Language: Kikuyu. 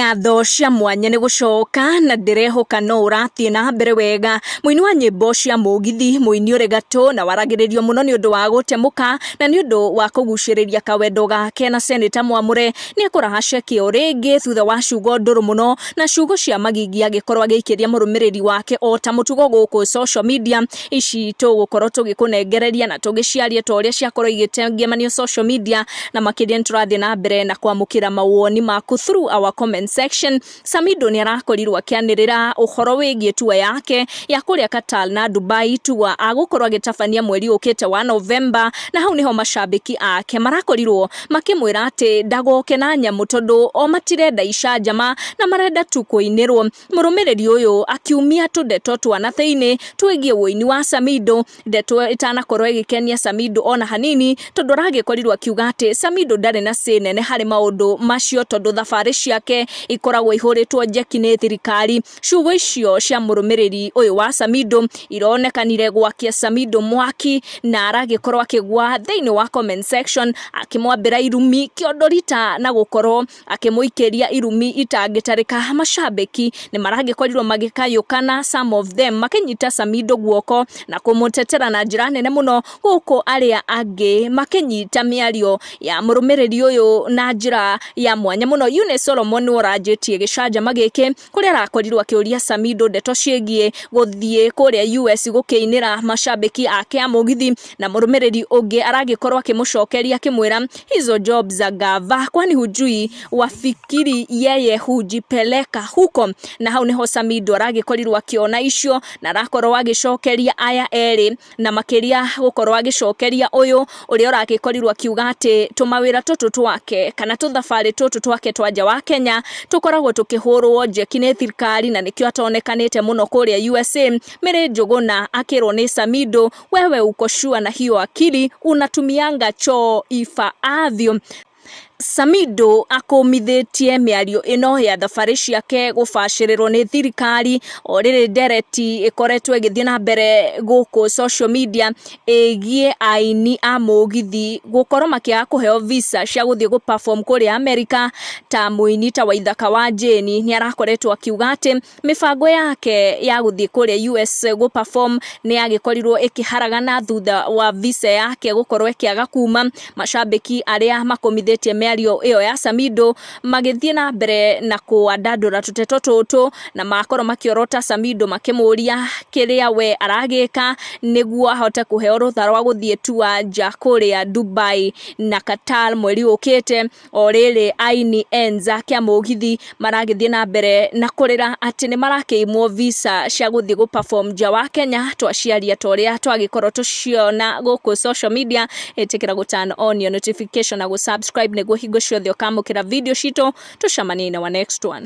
ngatho cia mwanya nĩ gũcoka na ndĩrehoka no ũrathiĩ na mbere wega mũini wa nyĩmbo cia mũgithi mũini ũrĩ gatũ na waragĩrĩrio mũno nĩ ũndũ wa gũtemũka na nĩ ũndũ wa kũgucĩrĩria kawendo gake na seneta mwamũre nĩ ekũraha ceki o rĩngĩ thutha wa ciugo ndũrũ mũno na ciugo cia magigi agĩkorwo agĩikĩria mũrũmĩrĩri wake o ta mũtugo gũkũ social media ici tũgũkorwo tũgĩkũnengereria na tũgĩciarie ta ũrĩa ciakorwo igĩtengemanio social media na makĩria nĩ tũrathiĩ na mbere na kwamũkĩra mawoni maku through our comment section Samido nĩ arakorirwo akĩanĩrĩra ũhoro wĩgiĩ tua yake ya kũrĩa Qatar na Dubai tua agũkorwo agĩtabania mweri ũkĩte wa November na hau nĩho macambĩki ake marakorirwo makĩmwĩra atĩ ndagoke na nyamũ tondũ o matirenda icanjama na marenda tu kũinĩrwo Mũrũmĩrĩri ũyũ akiumia tũndeto twa na thĩinĩ twĩgiĩ ũini wa Samido, ndeto ĩtanakorwo ĩgĩkenia Samido ona hanini tondũ aragĩkorirwo akiuga atĩ Samido ndarĩ na say nene harĩ maũndũ macio tondũ thabarĩ ciake ikoragwo ihũrĩtwo njeki nĩ thirikari. Ciugo icio cia mũrũmĩrĩri ũyũ wa Samido ironekanire gwakia Samido mwaki na aragĩkorwo akĩgwa thĩinĩ wa comment section akĩmwambĩra irumi kĩondo rita na gũkorwo akĩmũikĩria irumi itangĩtarĩka. Macambĩki nĩ maragĩkorirwo magĩkayũkana some of them makĩnyita Samido guoko na kũmũtetera na njĩra nene mũno, gũkũ arĩa angĩ makĩnyita mĩario ya mũrũmĩrĩri ũyũ na njĩra ya mwanya mũno. Eunice Solomon nĩwe ũranjĩtie gĩcanjama gĩkĩ. kũrĩa arakorirwo akĩũria Samido ndeto ciĩgiĩ gũthiĩ kũrĩa US gũkĩinĩra macambĩki ake a mũgithi na mũrũmĩrĩri ũngĩ aragĩkorwo akĩmũcokeria akĩmwĩra hizo job za gava kwani hujui wafikiri yeye hujipeleka huko na hau nĩho Samido aragĩkorirwo akĩona icio na arakorwo agĩcokeria aya erĩ na makĩria gũkorwo agĩcokeria ũyũ ũrĩa ũragĩkorirwo akiuga atĩ tũmawĩra tũtũ twake kana tũthabarĩ tũtũ twake twa nja wa Kenya tũkoragwo tũkĩhũrwo njeki nĩ thirikari na nĩkĩo atonekanĩte mũno kũrĩa USA. Mĩrĩ Njũgũna akĩrwo nĩ Samido wewe uko sure na hiyo akili unatumianga choo ifaavyo Samido akũmithĩtie mĩario ĩno ya thabarĩ ciake gũbacĩrĩrwo nĩ thirikari o rĩrĩ ndereti ĩkoretwo ĩgĩthiĩ na mbere gũkũ social media ĩgiĩ aini a mũgithi gũkorwo makĩaga kũheo visa cia gũthiĩ gũ perform kũrĩa America ta mũini ta Waithaka wa Jane nĩarakoretwo akiuga atĩ Mĩbango yake ya gũthiĩ kũrĩa US gũ perform nĩ yagĩkorirwo ĩkĩharagana thutha wa visa yake gũkorwo ĩkĩaga kuma, macambĩki arĩa makomithĩtie mĩario ĩyo ya Samido magĩthiĩ na mbere na kwandandũra tũteto tũtũ na makorwo makĩorota Samido makĩmũria kĩrĩa we aragĩka nĩguo ahote kũheo rũtha rwa gũthiĩ tour nja kũrĩa Dubai na Qatar mweri ũkĩte. O rĩrĩ aini enja kĩa mũgithi maragĩthiĩ na mbere na kũrĩra atĩ nĩ marakĩimwo visa cia gũthiĩ gũ perform nja wa Kenya, twaciaria ta ũrĩa twagĩkorwo tũkĩona gũkũ social media, ĩtĩkĩra gũ turn on your notification na gũ subscribe nĩguo hingo ciothe ũkamũkĩra video citũ, tũcemanie in our next one.